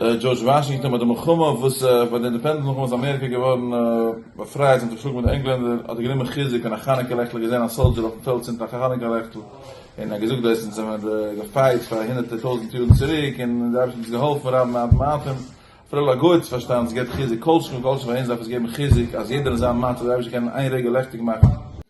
דזשארדזש וואשינגטאן ביי די מלחמה וואס ביי די אינדעפענדענס מלחמה איז אמעריקע געווארן באפרייט זיך האט געשלאגן מיט די ענגלענדער האט ער גענומען חיזוק און א חנוכה לעכטל האט געזען א סאלדזשער אויפן פעלד צינדט א חנוכה לעכטל און ער האט געזאגט דאס אונז האבן געפייט פאר הונדערטער טויזנט יארן צוריק און די אייבערשטער האט אונז געהאלפן רב מעט מעטים אפילו א גוי האט עס פארשטאנען עס געבט חיזוק כל שכן וכל שכן פאר אונז דארף עס געבן חיזוק אז יעדער אין זיין מצב די אייבערשטער קען אין איין רגע לעכטיג מאכן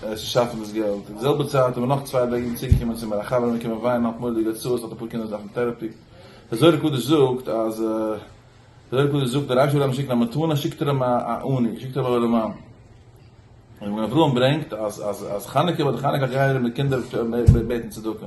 צו שאפן דאס געלט, אין די זעלבע צייט האבן נאך צוויי בני גיטין צוגעקומען צו מיר, א חבר איז מיר געקומען וויינען האט מורא'דיגע הוצאות האט אפאר קינדער וואס דארפן טערעפי, דער זוהר הקדוש זאגט אז דער זוהר הקדוש זאגט אז רשי וויל אים שיקן א מתנה שיקט ער אים א עני, שיקט ער אים א אור המן, און מגן אברהם ברענגט אז אז אז חנוכה ביי די חנוכה גייען די קינדער בעטן צדקה.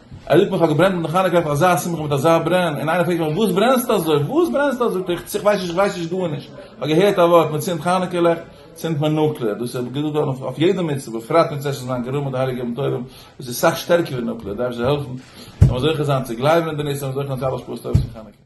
ער זאגט מיר איך האב געברענט מיט די חנוכה אויף אזא שמחה מיט אזא ברען, און איינער פרעגט מיך וואס ברענסטו אזוי? וואס ברענסטו אזוי? זאג איך איך ווייס נישט, איך ווייס נישט גארנישט, איך האב געהערט א ווארט מען צינדט חנוכה לעכט, צינדט מען נוקלער, דאס איז געזאגט געווארן אויף אויף יעדע מצוה, בפרט ווען צעשט מען זיין גערוב מיט די הייליגע ימים טובים, דאס איז סאך שטערקער ווי נוקלער, דארף זיך העלפן, זאל מען זוכה זיין צו גלייבן אין די נס, זאל מען זוכה האבן צו אלע השפעות טובות פון חנוכה.